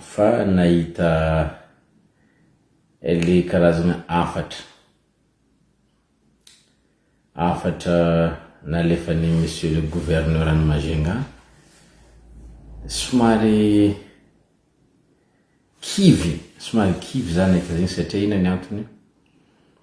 Fa nahita le karazana hafatra hafatra nalefan'i Monsieur le Gouverneur any Majunga, somary kivy, somary kivy za nahita zegny satria ino ny antony?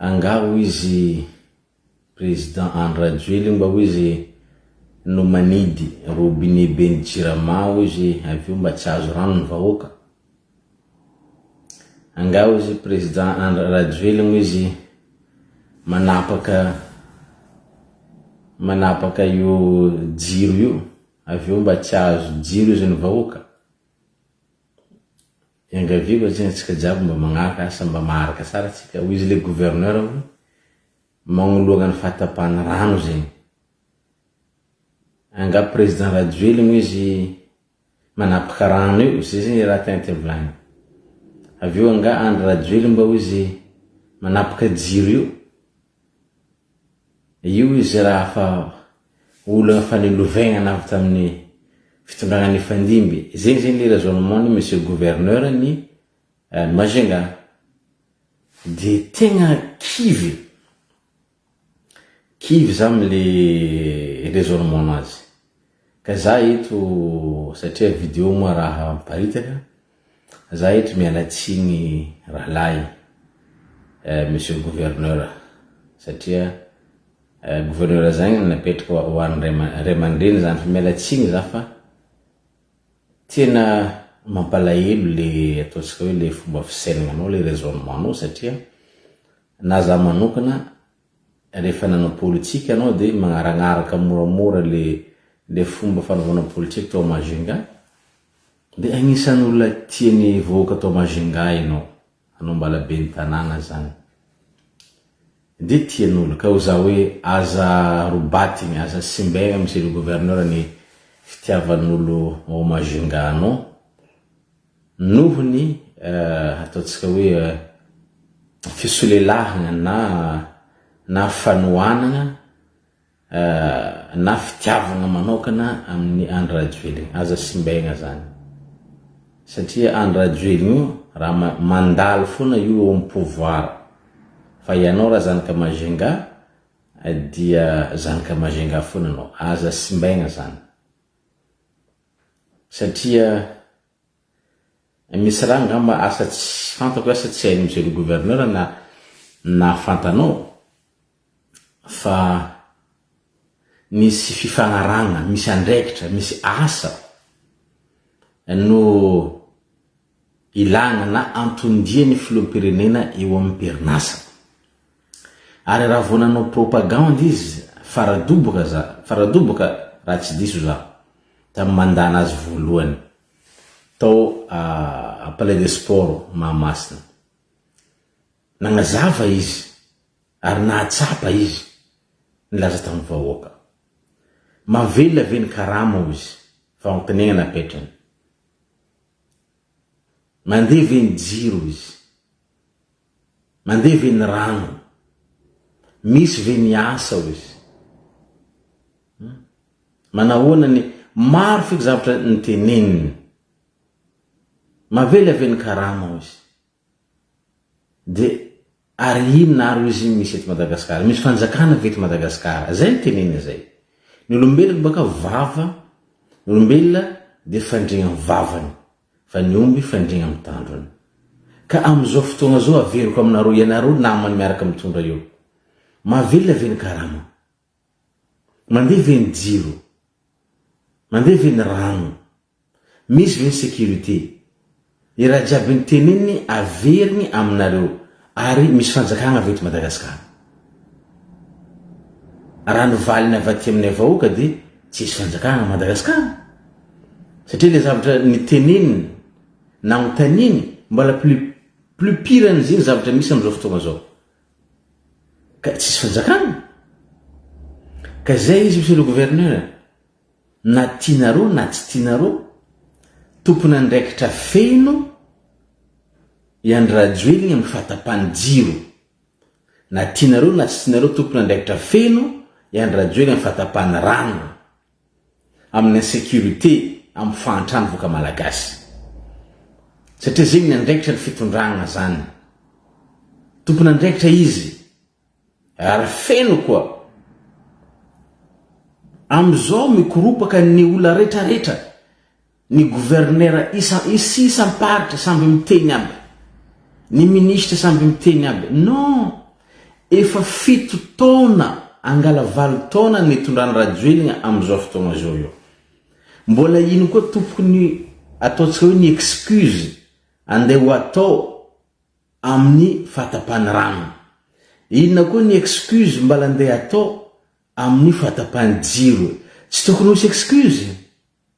Angaha hoy izy président Andry Rajoelina mba hoy izy no manidy robinet be ny jirama hoy izy avy eo mba tsy azo rano ny vahoaka? Angaha hoy izy président Andry Rajoelina hoy izy manapaka manapaka io jiro io avy eo mba tsy azo jiro izy ny vahoaka? Iangaviako atsika tsika jiaby mba magnaraka asa mba maharaka tsara tsika hoy izy le gouverneur hoy magnoloana ny fahatapahany rano zegny anga président rajoely moa izy manapaka rano io zay zegny raha tegna tiany volagny avy eo anga andry rajoely mba hoy izy manapaka jiro io Io izy raha fa olana fanelovegnana avy tamin'ny fitondragna nifandimby, zegny zegny le raisonnement ny monsieur gouverneur ny Majunga de tegna kivy, kivy za amle raisonnement nazy. Ka za eto satria video moa raha miparitaka, za eto miala tsiny rahalahy eh, monsieur gouverneur satria eh, gouverneur zagny no napetraka ho an'ny ray ama- ray aman-dreny zany fa miala tsiny za fa tena mampalahelo le ataontsika hoe le fomba fisaignanao le raisonnement-nao satria na za manokana Rehefa nanao politika ianao dia magnaragnaraka moramora le le fomba fanaovana politika tao Majunga? Dia agnisan'ny olona tian'ny vahoaka tao Majunga ianao, anao mbala ben'ny tanàna zany dia tian'olo ka hoza hoe aza robatigny, aza simbegna Monsieur le Gouverneur ny fitiavan'olo ao Majunga anao. Noho ny ataontsika hoe fisolelahana na na fanohanana na fitiavana manaokana amin'ny Andry Rajoelina. Aza simbaina zany. Satria Andry Rajoelina io raha mandalo foana io eo amin'ny pouvoir. Fa ianao raha zanaka Majunga dia zanaka Majunga foana ianao. Aza simbaina zany. satria misy raha angamba asa tsy fantako hoe asa tsy hain'i Monsieur le Gouverneur na nahafantanao fa nisy fifanarahana, misy andraikitra, misy asa no Ilàna na anton-dian'ny filoham-pirenena eo amin'ny perinasa. Ary raha vao nanao propagandy izy, fara-doboka za, fara-doboka raha tsy diso za, tamin'ny mandat nazy voalohany, tao Palais des Sports Mahamasina. Nagnazava izy ary nahatsapa izy, nilaza tamin'ny vahoaka. Mahavelona ve ny karama hoy izy, fa ankinegna ny apetrany. Mandeha ve ny jiro izy? Mandeha ve ny rano? Misy ve ny asa hoy izy? Hum. Manahoana ny. Maro feky zavatra noteneniny. Mavely ave ny karama hoy izy. De ary inona ary oizy iny misy eto Madagascar? Misy fanjakana ve eto Madagascar? Zay no tenenina zay. Ny olombelona baka vava, ny olombelona dia fandriagna am vavany, fa ny omby fandriagna am tandrony. Ka am zao fotoagna zao averiko aminareo ianareo namany miaraka mitondra eo. Mahavelona ve ny karama? Mandeha ve ny jiro? Mandeha ve ny rano? Misy ve ny sécurité? Ny raha jiaby noteneniny averiny aminareo ary misy fanjakagna ve eto Madagascar? Raha ny valiny avy aty aminay vahoaka dia tsisy fanjakagna Madagascar satria le zavatra niteneniny nagnotaniny mbola plus plus pire an'izegny zavatra misy amzao fotoagna zao. Ka tsisy fanjakana? Ka zay izy Monsieur le Gouverneur, na tianareo na tsy tianareo, tompon'andraikitra feno i Andry Rajoelina amin'ny fahatapan'ny jiro. Na tianareo na tsy tianareo tompon'andraikitra feno i Andry Rajoelina amin'ny fahatapan'ny rano. amin'ny insecurité amin'ny fahantrany voka malagasy satria zegny ny andraikitra ny fitondragna zany tompon'andraikitra izy ary feno koa amizao mikoropaka ny ola retraretra Ny gouverneur isa sy isam-paritra samby miteny aby, ny ministre samby miteny aby, non! efa fito taona angala valo taona ny nitondran'i Rajoelina amin'izao fotoagna izao io. Mbola ino koa topokony ataontsika hoe ny excuse andeha ho atao amin'ny fahatapahan'ny rano? Inona koa ny excuse mbala andeha atao amin'ny fahatapahan'ny jiro? Tsy tokony ho hisy excuse?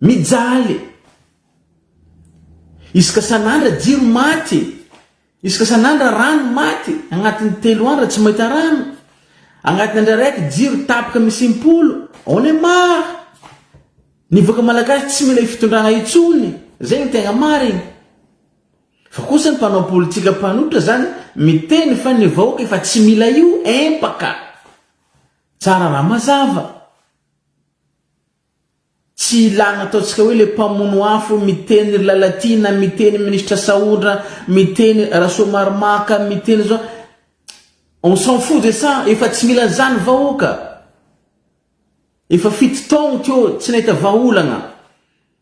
Mijaly e! Isaka san'andra jiro maty e! Isaka san'andra rano maty e! Agnatin'ny telo andra tsy mahita rano, agnatin'ny andra raiky jiro tapaka misy impolo, on est marre! Ny vahoaka malagasy tsy mila io fitondrana io intsony, zay no tegna marigny. Fa kosa ny mpanao politika mpanotra zany miteny fa ny vahoaka efa tsy mila io empaka! Tsara raha mazava. Tsy ilana ataontsika hoe le mpamono afo miteny ry Lalatiana, miteny ministra Sahondra, miteny Rasoamaromaka, miteny zao, on s'en fout de ça, efa tsy mila an'izany vahoaka, efa fito taogno teo tsy nahita vahaolana.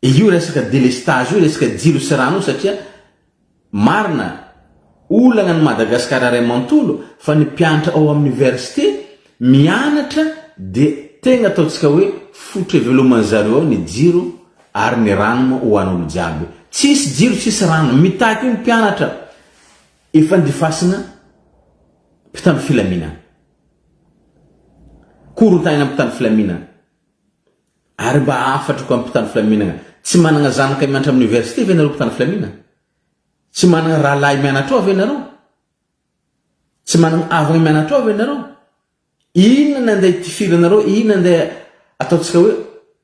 Io resaka délestage io, resaka jiro sy rano io satria marina olana an'i Madagascar iray manontolo fa ny mpianatra ao amin'ny université mianatra dia tegna ataontsika hoe fototra iveloman'ny zareo ao ny jiro ary ny rano moa ho an'olo jiaby. Tsisy jiro tsisy rano, mitaky io ny mpianatra efa andifasina mpitandro filaminana, korontanina mpitandro filaminana. Ary mba hahafantrako amin'ny mpitandro filaminana, tsy manana zanaka mianatra amin'ny oniversite ve ianareo mpitandro filaminana? Tsy manana rahalahy mianatra ao ve ianareo? Tsy manana havana mianatra ao ve ianareo? Inona ny andeha hitifiranareo? Inona andeha ataontsika hoe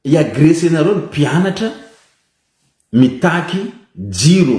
hiagresenareo ny mpianatra mitaky jiro?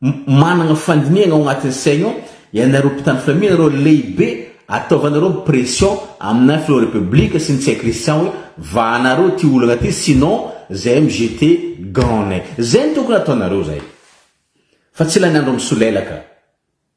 Managna fandinihagna ao agnatin'ny saigny ao ianareo mpitandro filaminanareo lehibe ataovanareo pression amina filoha republique sy ny tsay christian hoe vahanareo ty olagna ty sinon zahay mgt gants nay zay no tokony ataonareo zahay fa tsy lany andro misolelaka.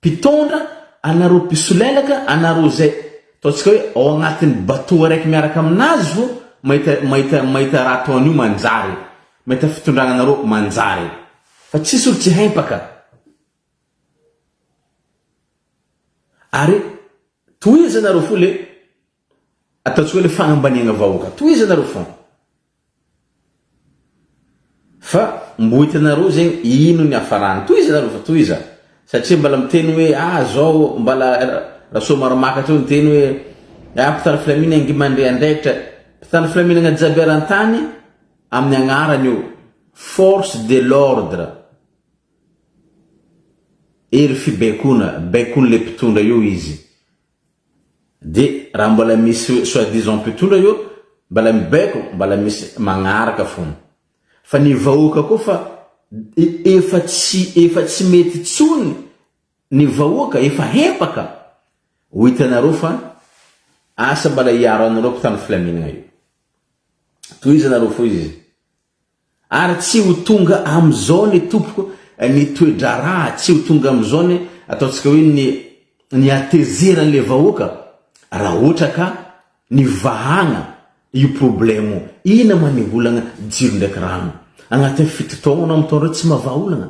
Mpitondra, anareo mpisolelaka, anareo izay ataontsika hoe ao agnatin'ny bateau araiky miaraka aminazy vo mahita mahita mahita raha toa an'io manjary e! Mahita fitondrana anareo manjary e! Fa tsisy olo tsy hempaka! Ary tohizo ianareo fo le Ataontsika hoe fanambaniagna vahoaka. Tohizo anareo fona. Fa mbo hitanareo zegny ino ny hafarany. Tohizo anareo fa tohiza. Satria mbala miteny hoe ah zao mbala Rasoamaromaka teo niteny hoe ah mpitandro filaminagna ngy mandre andraikitra. Mpitandro filaminagna jiaby eran-tany amin'ny agnarany eo. Force de l'ordre. Hery fibaikona. Baikon'le mpitondra eo izy. Dia raha mbola misy soit disant mpitondra eo mbola mibaiko mbola misy magnaraka fona. Fa ny vahoaka koa fa efa tsy efa tsy mety tsony ny vahoaka efa hempaka. Ho hitanareo fa asa mbola hiaro anareo mpitandro filaminana io. Tohizanareo fo izy. Ary tsy ho tonga amin'izao anie tompoko ny toe-draharaha, tsy ho tonga amin'izao anie ataontsika hoe ny ny hatezeran'ilay vahoaka raha ohatra ka nivahana io problemo ina maneolana jiro ndraiky rano agnatin'ny fito taona amin'itaona ireo tsy mahavaha olana.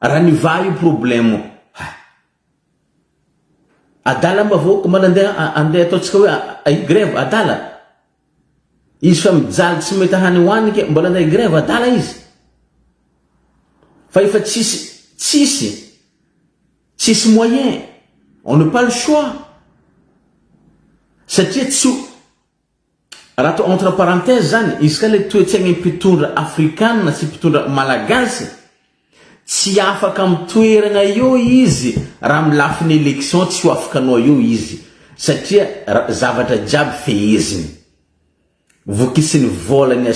Raha ny va io problème hay. Adala mba vahoaka mba nandeha andeha ataontsika hoe higrève adala. Izy fa mijaly tsy mety hany ho any ke mbola andeha higrève adala izy. Fa efa tsisy tsisy tsisy moyen on ne pas le choix satria tsy Raha atao entre parenthèse zany, izy ka le toetsaignin mpitondra afrikanina sy mpitondra malagasy, tsy afaka am toeragna eo izy raha am lafiny election tsy ho afaka anao eo izy satria zavatra jiaby feheziny. Vokisiny vola ny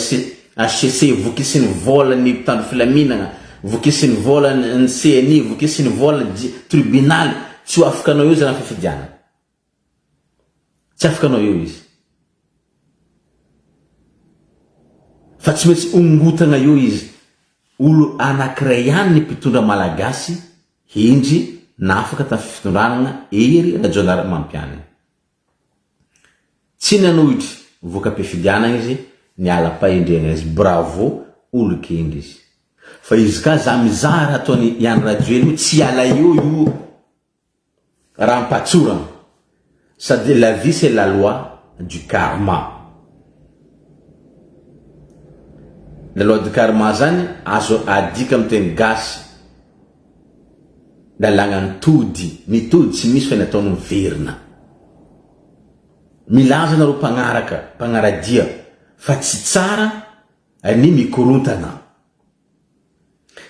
HCC, vokisiny vola ny mpitandro filaminagna, vokisiny vola ny CNI, vokisiny vola ny tribunal, tsy ho afaka anao eo zany am fifidianana. Tsy afaka hanao eo izy. Fa tsy maintsy hongotana eo izy. Olo anankiray ihany ny mpitondra malagasy hendry nafaka tamin'ny fitondranana Hery Rajaonarimampianina. Tsy nanohitry voka-pifidianana izy niala am-pahendrena izy. Bravo olo gendry izy. Fa izy ka za mizara ataony Ihany Rajoely io tsy hiala eo io. Raha ampatsorana, ça dit la vie c'est la loi du karma. La loi du karma zany azo adika amin'ny teny gasy, lalàna ny tody, ny tody tsy misy fa ny ataony miverina. Milaza anareo mpagnaraka, mpagnaradia fa tsy tsara ny mikorontana,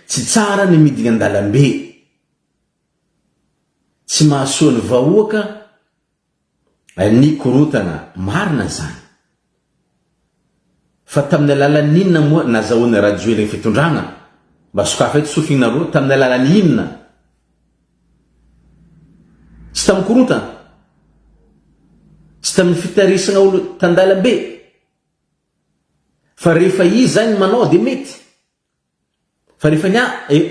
tsy tsara ny midina an-dalambe. Tsy mahasoa ny vahoaka ny korontana marina izany. Fa tamin'ny alalan'ny inona moa nazahoan'i Rajoely ny fitondrana? Mba sokafa eto sofinareo, tamin'ny alalan'ny inona? Tsy tamin'ny korontana? Tsy tamin'ny fitarisana olona tan-dalambe? Fa rehefa izy izany manao dia mety. Fa rehefa ny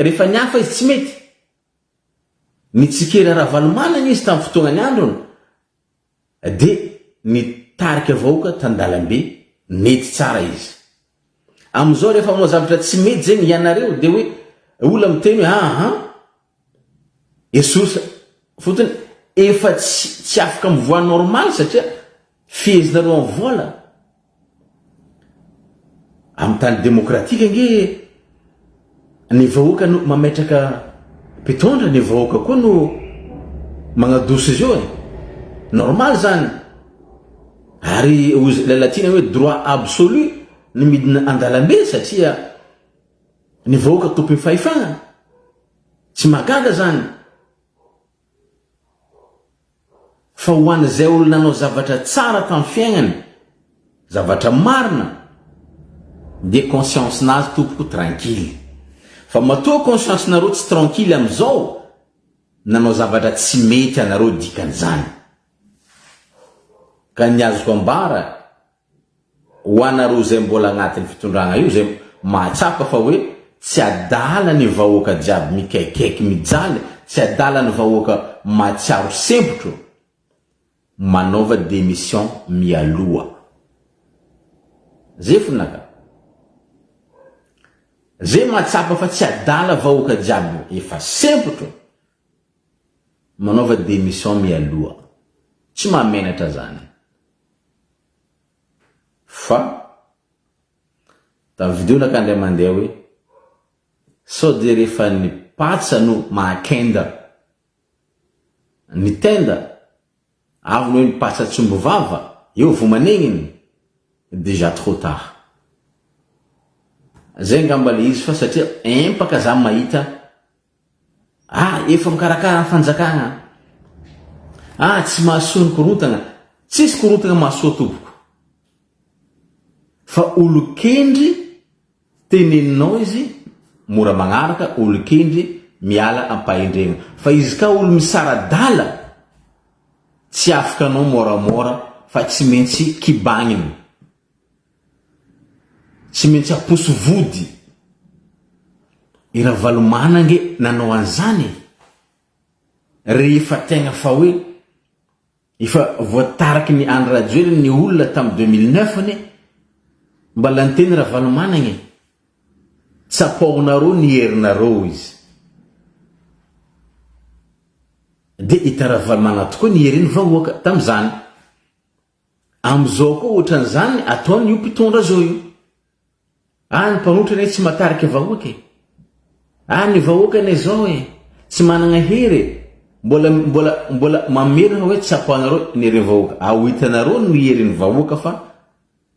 rehefa ny hafa izy tsy mety. Nitsikera Ravalomanana izy tamin'ny fotoanany androny de nitarika vahoaka tan-dalambe nety tsara izy. Amin'izao rehefa manao zavatra tsy mety zegny ianareo de hoe ola miteny hoe ahan! Esory fotony efa tsy tsy afaka mivoaha normal satria fehezinareo am vola am tany demokratika ange ny vahoaka no mametraka mpitondra ny vahoaka koa no magnadoso izy io e normal zany ary hoy ilay latina hoe droit absolu ny midina andalambe satria Ny vahoaka tompony fahefana? Tsy mahagaga zany fa ho an'izay olona nanao zavatra tsara tam fiaignany, zavatra marina dia conscience nazy tompoko tranquille fa matoa conscience nareo tsy tranquille amizao nanao zavatra tsy mety anareo dikan'izany ka ny azoko ambara Ho anareo izay mbola anatin'ny fitondrana io izay mahatsapa fa hoe tsy adala ny vahoaka jiaby mikaikaiky mijaly, tsy adala ny vahoaka mahatsiaro sempotro, manaova démission mialoha. Ze fona ka. Ze mahatsapa fa tsy adala vahoaka jiaby efa sempotro, manaova démission mialoha. Tsy mahamenatra zany. Fa da video naka ndray mandeha hoe sao dia rehefa ny patsa no mahakenda ny tenda avy ny hoe ny patsa tsy omby vava eo vo manegniny déjà trop tard. Zay ngamba le izy fa satria empaka za mahita Ah efa mikarakara ny fanjakana ah tsy mahasoa ny korontana tsisy korontana mahasoa tompoko fa olokendry teneninao izy mora magnaraka olokendry miala ampahendrena fa izy ka olo misaradala tsy afaka anao moramora fa tsy maintsy kibagnina Tsy maintsy aposo vody. I Ravalomana ange nanao an'izany e! Rehefa tegna fa hoe efa voataraky ny Andry Rajoelina ny olona tamin'ny deux mille neuf anie mbala niteny Ravalomanagna e! Tsapaonareo ny herinareo hoy izy. Dia hitan'i Ravalomana tokoa ny heriny va oaka tamin'izany? Amizao koa otrany zany ataony io mpitondra zao io. Ah ny mpanotra anie tsy matarika vahoaka e. Ah ny vahoaka anie zao e, tsy managna hery e. Mbola mbola mbola mamerina hoe tsapanareo ny herin'ny vahoaka. Ao hitanareo ny herin'ny vahoaka fa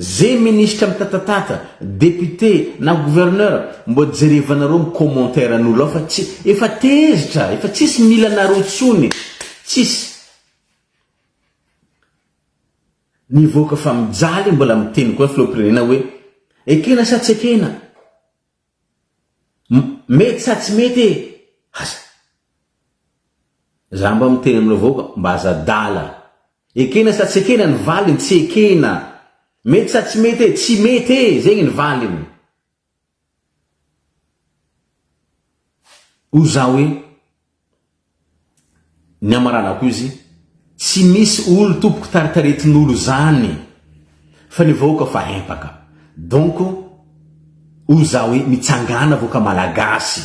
Ze ministra mitatatata, député na gouverneur mbô jerevanareo ny commentaire an'olo ao fa tsy, efa tezitra, efa tsisy mila anareo tsony, tsisy nivoaka fa mijaly mbola miteny koa filohampirenena hoe ekena sa tsy ekena? Mety sa tsy mety e! Aza. Za mba miteny amin'ireo vahoaka mba aza adala. Ekena sa tsy ekena ny valiny tsy ekena. Mety sa tsy mety e! Tsy mety e! Zegny ny valiny. Hoy za hoe Ny amaranako izy tsy misy olo tompoko taritaretin'olo zany fa ny vahoaka fa empaka donc hoy za hoe mitsangana vahoaka malagasy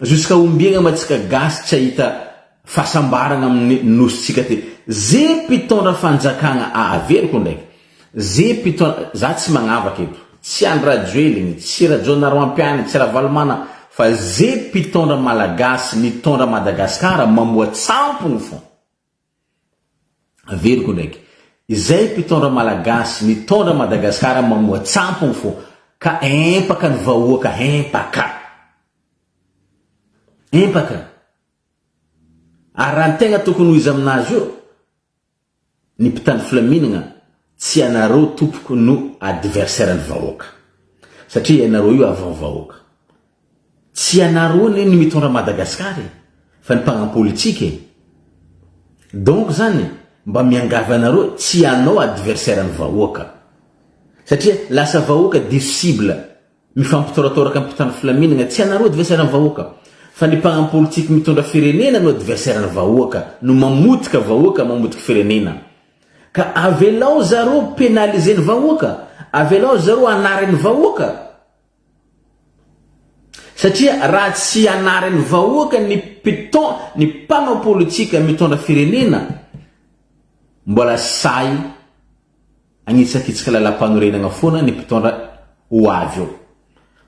jusqu'à ombiagna ma tsika gasy tsy ahita fahasambaragna amin'ny nosintsika ty ze mpitondra fanjakagna averiko ndraiky Ze pito za tsy magnavaka eto tsy Andry Rajoeliny tsy Rajaonaroampiany tsy Ravalomana fa ze pitondra malagasy mitondra Madagascar mamoa tsampogno fô averiko ndraiky izay pitondra malagasy mitondra Madagascar mamoa tsampogno fô ka empaka ny vahoaka empaka empaka ary raha ny tegna tokony ho izy aminazy io Ny mpitandro filaminagna tsy ianareo tompoko no adversaire ny vahoaka satria ianareo io avant vahoaka tsy ianareo anie no mitondra Madagascar e fa ny mpagna politika e donc zany mba miangavy anareo tsy ianao adversaire ny vahoaka satria lasa vahoaka diso cible Mifampitoratoraka ampitan'ny filaminagna tsy anareo adversaire ny vahoaka fa ny mpagnam politique mitondra firenena no adversaire ny vahoaka no mamotika vahoaka mamotika firenena ka avelao zareo penaliser ny vahoaka avelao zareo anary ny vahoaka satria raha tsy anary ny vahoaka ny piton ny mpagnam politique mitondra firenena mbola sahy Hanitsakitsaka lalam-panorenagna foana ny mpitondra ho avy eo.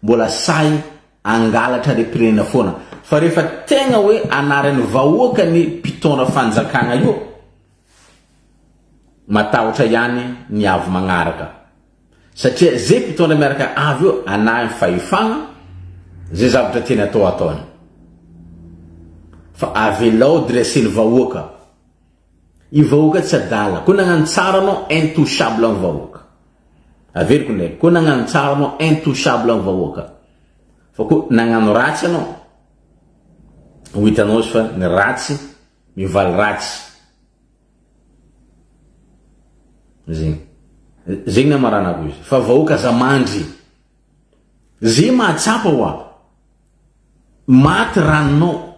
Mbola sahy hangalatra harem-pirenena foana. Fa rehefa tegna hoe anaran'ny vahoaka ny mpitondra fanjakagna io, matahotra ihany ny avy magnaraka. Satria ze mpitondra miaraka avy eo anahy fahefagna, ze zavatra tiany atao ataony. Fa avelao dresen'ny vahoaka. Io vahoaka tsy adala. Koa nagnano tsara anao intouchable ny vahoaka. Averiko indraiky. Koa nagnano tsara anao intouchable ny vahoaka. Fa koa nagnano ratsy anao. Ho hitanao izy fa ny ratsy mivaly ratsy. Zegny. Zegny ny amaranako izy. Fa vahoaka aza mandry. Ze mahatsapa oa. Maty rano non.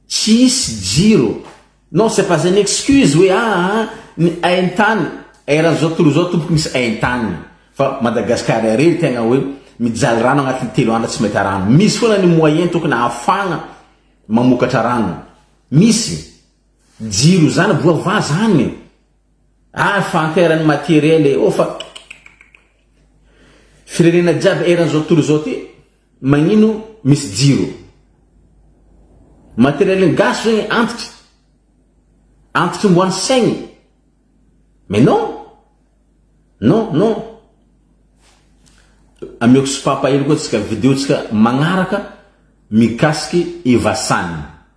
Tsy hisy jiro. Non c'est pas un excuse hoe aa ny aintany eran'ny zao tontolo zao tompoko misy aintany fa Madagascar irery tegna hoe mijaly rano agnatin'ny telo andro tsy mahita rano. Misy foana ny moyen tokony ahafagna mamokatra rano. Misy. Jiro zany voavaha zany. Ary fa anteran'ny materiel e oh fa Firenena jiaby eran'izao tontolo izao ty magnino misy jiro. Materielin gasy zegny antitry antitry mboan'ny saigny mais non non non ameoko sopapa hely koa tsika video tsika magnaraka mikasiky Eva San.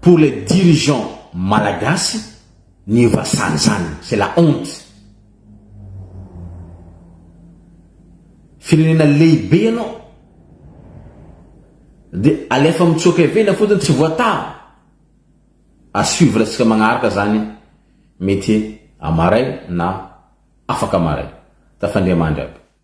Pour les dirigeants malagasy ny vassal zany c'est la honte. Firenena lehibe ianao de alefa mitsoaka ivelany fotsiny tsy voatavo. A suivre tsika magnaraka zany mety amaray na afaka maray. Tafandria mandry aby.